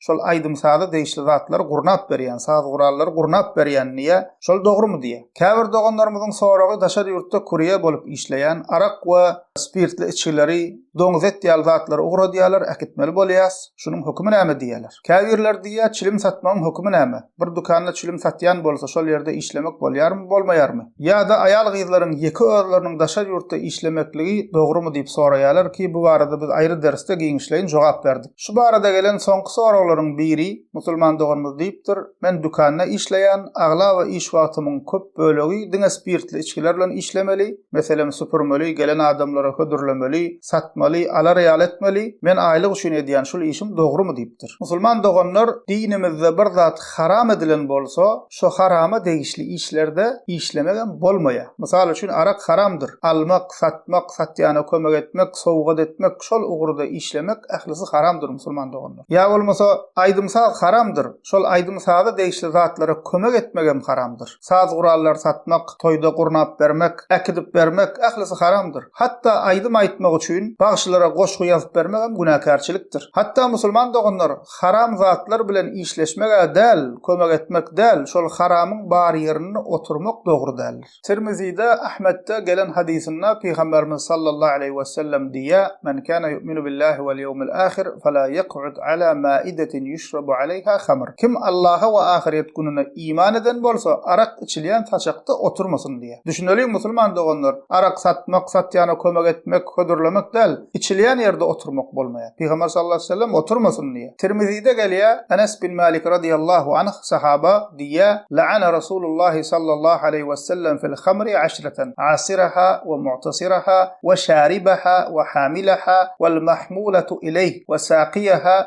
şol aýdym-saza degişli zatlary gurnap berýän, saz gurallary gurnap berýän diýýä, şol dogrumy diýýä. Käbir doganlarymyzyň soragy daşary ýurtda kurýer bolup işleýän, arak we spirtli içgileri, doňuz et ýaly zatlary ugradýarlar, äkitmeli bolýas, şunuň hökümi näme diýýärler. Käbirleri diýýä, çilim satmagyň hökümi näme? Bir dükanda çilim satýan bolsa şol ýerde işlemek bolýarmy, bolmaýarmy? Ýa-da aýal-gyzlaryň ýeke özleriniň daşary ýurtda işlemekligi dogrumy diýip soraýarlar ki, bu barada biz aýry dersde giňişleýin jogap berdik. Şu barada gelen soňky soraglaryň biri musulman doganymyz diýipdir, Men dükanda işleýän, aglaba iş wagtymyň köp bölegi diňe spirtli içgiler bilen işlemeli, meselem süpürmeli, gelen adamlara hödürlemeli, satmaly, alar ýaly etmeli, men aýlyk üçin edýän şul işim dogrymy diýipdir. Musulman doganlar dinimizde bir zat haram edilen bolsa, Şo harama degişli işlerde işlemegem bolmaýar. Mysal üçin arak haramdyr. Almak, satmak, satýana kömek etmek, sowgat etmek, şol ugurda işlemek ählisi haramdyr musulman doganlar. Ýa bolmasa aýdym-saz haramdyr. Şol aýdym-saza degişli zatlara kömek etmegem haramdyr. Saz gurallary satmak, toýda gurnap bermek, äkidip bermek ählisi haramdyr. Hatda aýdym aýtmak üçin bagşylara goşgy ýazyp bermegem günäkärçilikdir. Hatda musulman doganlar Haram zatlar bilen işleşmeg-ä däl, kömek etmek däl, şol haramyň bar ýerinde oturmak dogry däldir. Tirmizide, Ahmetde gelen hadysynda Pygamberimiz sallallahu aleýhi wesellem diýýär, Men kana yu'minu billahi wal ýewmil ahir, fela yek'ud ala ma'idetin yuşrabu aleýha hamr. Kim Allaha we ahyret gününe iman eden bolsa, arak içilýän saçakda oturmasyn diýýär. Düşüneliň musulman doganlar, arak satmak, satýana kömek etmek, hödürlemek däl, içilýän ýerde oturmak bolmaýar. Pygamber sallallahu aleýhi we sellem oturmasyn diýýär. Tirmizide gelýär, Enes bin Malik radiýallahu anh, sahaba, diýýär, Laana Rasulullah sallallahu aleýhi we sellem fil hamri aşratan, asiraha we mu'tasiraha we şaribaha we hamilaha wal mahmulatu ileýh we saqiýaha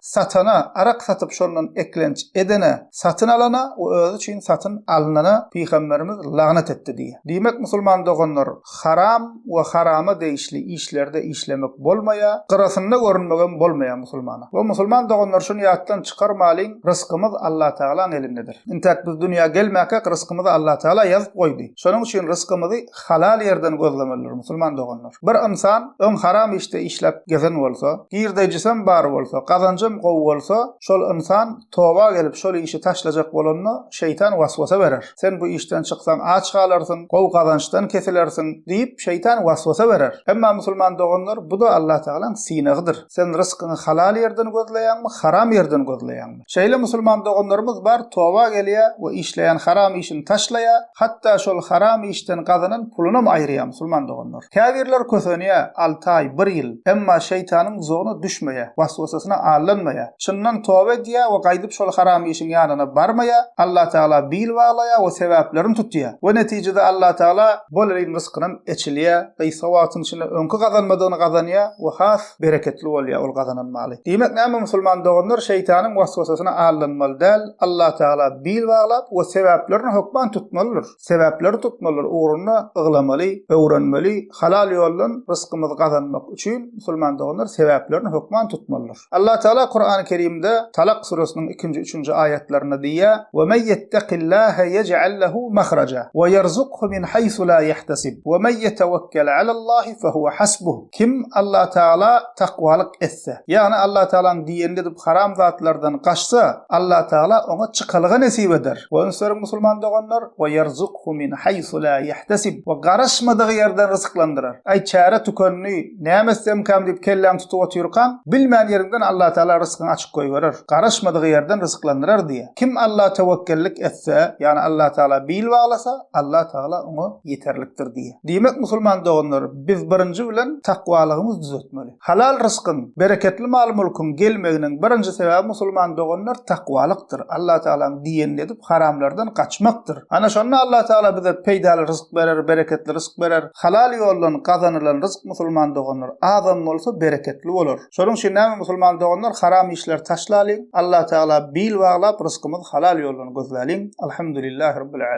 Satana, arak satyp şondan eklenç edene, satyn alana we özi üçin satyn alnana Pygamberimiz lagnat etdi diýýär. Diýmek musulman doganlar, haram we harama degişli işlerde işlemek bolmaýar, gyrasynda görünmegem bolmaýar musulmana. We musulman doganlar şuny ýatdan çykarmalyň, rysgymyz Allatagalaň elindedir. Intäk biz dünýä gelmäkäk rysgymyzy Allatagala ýazyp goýdy. Şonuň üçin rysgymyzy halal ýerden gözlemelidir, musulman doganlar. Bir ynsan öň haram işde işläp gezen bolsa, girdeýjisem bar bolsa, gazanjam gowy bolsa, şol ynsan toba gelip, şol işi taşlajak bolanda, şeýtan waswasa berer. Sen bu işden çyksaň aç galarsyň, gowy gazançdan kesilersiň diýip, şeýtan waswasa berer. Emma musulman doganlar, bu-da Allatagalaň synagydyr. Sen ryskyňy halal ýerden gözleýäňmi, haram ýerden gözleýäňmi? Şeýle musulman doganlarymyz bar toba gelýä we işleýän haram işini taşlaýa, hatda şol haram işden gazanan pulunam aýyrýa musulman doganlar. Käbirler kösenýä, alty aý, bir ýyl, emma şeýtanyň duzagyna düşmeýä, waswasasyna aldanmaýa, çyndan toba edýä we gaýdyp şol haram işiň ýanyna barmaýa, Allatagala bil baglaýa we sebäplerini tutýa we netijede Allatagala bolelin ryzkynam eçilýä, gysga wagtyň içinde öňki gazanmadygyny gazanýa we has bereketli bolýar ol gazanan maly. Diýmek näme musulman doganlar şeýtanyň waswasasyna aldanmaly däl, Allatagala bil baglap we sebäplerini hökman tutmalydyr. Sebäpleri tutmalydyr ugrunda yglamaly, öwrenmeli, halal ýoldan rysgymyzy gazanmak üçin musulman doganlar sebäplerini hökman tutmalydyr. Allatagala Kurany Kerimde Talak suresiniň ikinji üçünji aýatlarynda diýýär, Ve men yetteqillahe yec'al lehu mahraca, ve yerzukhu min haysu la yehtesib, ve men yetewekkel alallahi fehuve hasbuh. Kim Allatagala takwalyk etse, ýagny Allatagalaň diýenini edip haram zatlardan gaçsa, Allatagala oňa çykalga nesip eder. Wagz beriň musulman doganlar, we ýerzukhu min haýsu la ýehtesib, we garaşmadygy ýerden ryzyklandyrar. Aý çäre tükendi, näme etsemkäm diýip kelläňi tutup otyrkaň, bilmän ýeriňden Allatagala ryzkyňy açyp goýberer, garaşmadygy ýerden ryzyklandyrar diýýär. Kim Alla tewekgellik etse, ýagny Allatagala bil baglasa, Allatagala oňa ýeterlikdir diýýär. Diýmek musulman doganlar, Biz birinji bilen takwalygymyz düzetmeli. Halal ryskyň, bereketli mal-mülküň gelmeginiň birinji sebäbi musulman doganlar takwalykdyr, Allah Tagalaň diýenini edip haramlardan gaçmakdyr. Ana şonda Allah Tagala bize peýdaly rysk berer, bereketli rysk berer. Halal ýoldan gazanylan rysk musulman doganlar azam bolsa bereketli bolar. Şonuň üçin näme musulman doganlar haram işleri taşlalyň, Allah Tagala bil baglap ryskymyzy halal ýoldan gözläliň. Alhamdulillahi Rabbil Alemin.